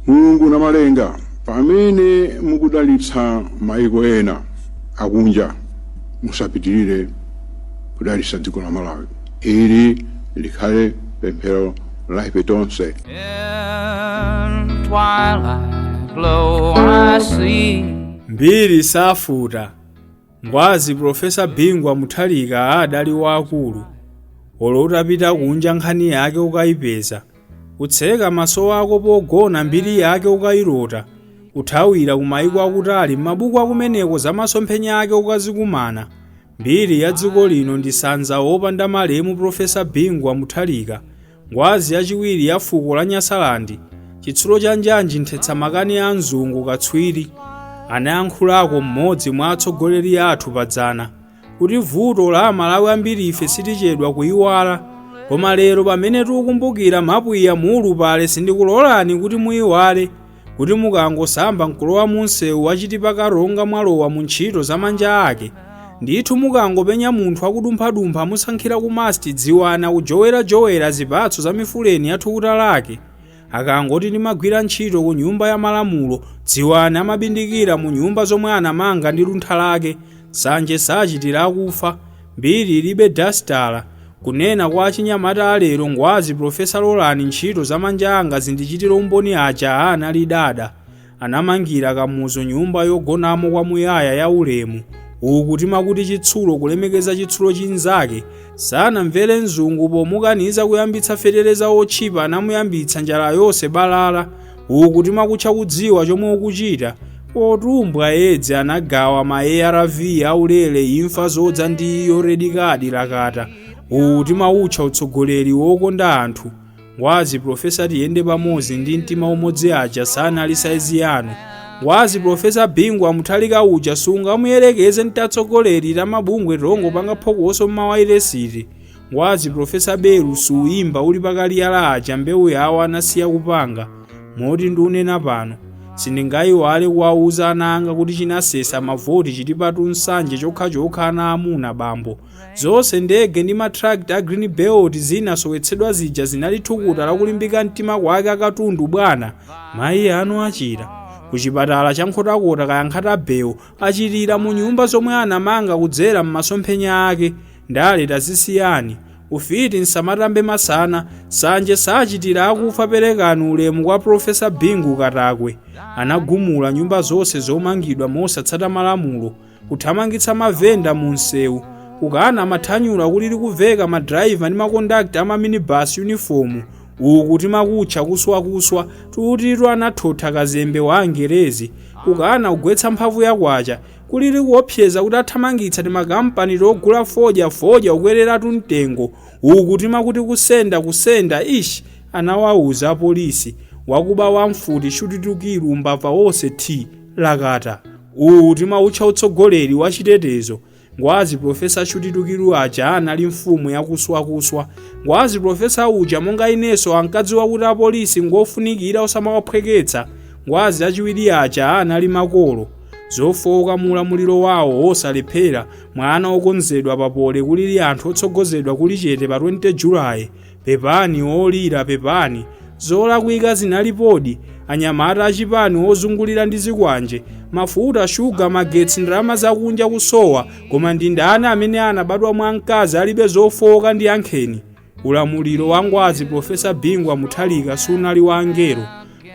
Mulungu Namalenga, pamene mukudalitsa maiko ena akunja, musapitirire kudalitsa dziko la Malawi. Ili likhale pemphero la ife tonse. Mbiri safuta, Ngwazi Prof. Bingu wa Mutharika adali waakulu, olo utapita kunja nkhani yake ukaipeza. Kutseka maso ako pogona mbiri yake ukailota, kuthawira ku maiko akutali m'mabuku akumeneko za masomphenya ake ukazikumana, mbiri ya dziko lino ndi sanza opanda malemu Professor Bingu wa Mutharika, ngwazi yachiwiri ya fuko la Nyasaland, chitsulo cha njanji nthetsa makani a mzungu katswiri, anayankhulako m'modzi mwa atsogoleri athu padzana. kuti vuto la amalawi ambirife sitichedwa kuiwala koma lero pamene tikukumbukira mapwiya muulupale sindikulolani kuti muiwale kuti mukangosamba nkulowa munsewu wa chitipa karonga mwalowa mu ntchito za manja ake ndithu mukangopenya munthu akudumphadumpha amusankhira ku MUST dziwani akujowerajowera zipatso za mifuleni ya thukuta lake Akangoti ndimagwira ntchito ku nyumba ya malamulo, dziwani amabindikira mu nyumba zomwe anamanga ndi luntha lake. Nsanje sachitira akufa. Mbiri ilibe dasitala. Kunena kwa achinyamata a lero ngwazi Prof. Lolani ntchito za manja anga zindichitire umboni aja anali dada. Anamangira Kamuzu nyumba yogonamo kwamuyaya ya ulemu, uku timakuti chitsulo kulemekeza chitsulo chinzake, sanamvere mzungu pomukaniza kuyambitsa feteleza otchipa anamuyambitsa njala yonse balala, uku timakutcha kudziwa chomwe ukuchita, potumbwa edzi anagawa ma arv aulere imfa zodza ndi iyo red card lakata, uwu timautcha utsogoleri wokonda anthu. Ngwazi Professor tiyende pamodzi ndi mtima umodzi aja sanali saizi yanu. Ngwazi Professor Bingu wa Mutharika uja sungamuyerekeze n'tatsogoleri tamabungwe tongopanga phokoso mmawayiresiti. Ngwazi Professor belu suyimba uli pakaliyala aja mbewu yawo anasiya kupanga. Moti ndiunena pano. sindingayiwale kuwauza ana anga kuti chinasesa mavoti Chitipa to Nsanje chokhachokha ana amuna bambo Zonse ndege ndi matrakita a Greenbelt zinasowetsedwa zija zinali thukuta la kulimbika mtima kwake akatundu bwana. Mayi anu achira ku chipatala cha Nkhotakota kaya Nkhatabay achirira mu nyumba zomwe anamanga kudzera m'masomphenya ake. Ndale tazisiyani. Ufiti msamatambe masana. Nsanje sachitira akufa perekani ulemu kwa Prof. Bingu Katakwe. Anagumula nyumba zonse zomangidwa mosatsata malamulo. kuthamangitsa mavenda mu msewu kukana mathanyula kulili kuveka madrayiva ndi makondakta a maminibasi yunifomu uku timakutcha kuswakuswa tutitu anathotha kazembe wa angerezi kukana kugwetsa mphamvu ya kwacha kulili kuopseza kuti athamangitsa timakampani togula fodya fodya ukwereratu mtengo uku timakuti kusenda kusenda ish anawawuza apolisi wakuba wamfuti shutitukiru umbava wonse t Lakata, uwu timautcha utsogoleri wa chitetezo, Ngwazi Professor Shutitukiru aja anali mfumu ya kuswakuswa. Ngwazi Professor uja monga inenso ankadziwa kuti apolisi ngofunikira osamawaphweketsa. Ngwazi achiwiri aja anali makolo. Zofooka mu ulamuliro wawo wosalephera, mwana wokonzedwa papole kulili anthu otsogozedwa kuli chete pa 20 Julaye, Pepani olira pepani. Zolakwika zinalipodi. Anyamata achipani ozungulira ndi zikwanje, mafuta, shuga, magetsi, ndalama zakunja kusowa, koma ndi ndani amene anabadwa mwa mkazi alibe zofowoka ndiyankheni? Ulamuliro wa ngwazi Prof. Bingu wa Mutharika sunali wa angelo.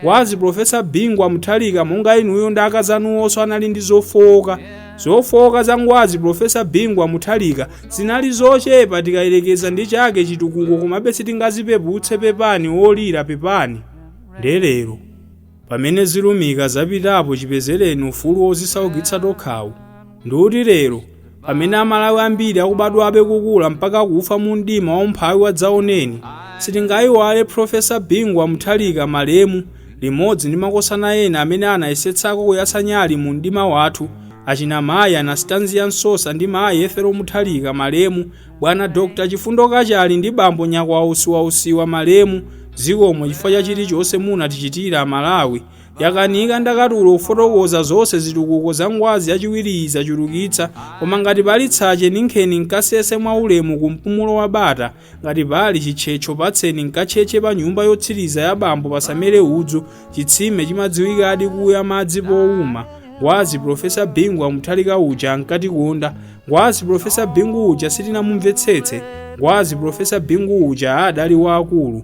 wazi professor bingu wa mutharika monga inuyo ndi akazanuwonso anali ndi zofowoka zofowoka za ngwazi professor bingu wa mutharika zinali zochepa tikayerekeza ndi chake chitukuko komabe sitingazipeputse pepani olira pepani nde lero pamene zilumika zapitapo chipezereni ufulu wozisaukitsa tokhawu ndikuti lero Pamene Amalawi ambiri akubadwabe kukula mpaka kufa mu mdima wa umphawi wadzaoneni, sitingaiwale Prof. Bingu wa Mutharika, malemu, limodzi ndi makosana ena amene anayesetsako kuyatsa nyali mu mdima wathu, achina Mayi Anastanzia Msosa ndi Mayi Ethel Mutharika, malemu, Bwana Dr. Chifundo Kachale ndi Bambo Nyakwawa Usiwausiwa, malemu, Zikomo chifukwa cha chilichonse munatichitira Amalawi, yakanika ndakatulo kufotokoza zonse zitukuko za ngwazi yachiwiriyi zachulukitsa koma ngati pali tsache ninkheni nkasese mwa ulemu ku mpumulo wa bata ngati pali chitchetcho patseni nkatchetche pa nyumba yotsiriza ya bambo pasamere udzu chitsime chimadziwikadi kuya madzi powuma ngwazi profesa bingu wa mutharika uja ankatikonda ngwazi profesa bingu uja sitinamumvetsetse ngwazi profesa bingu uja adali waakulu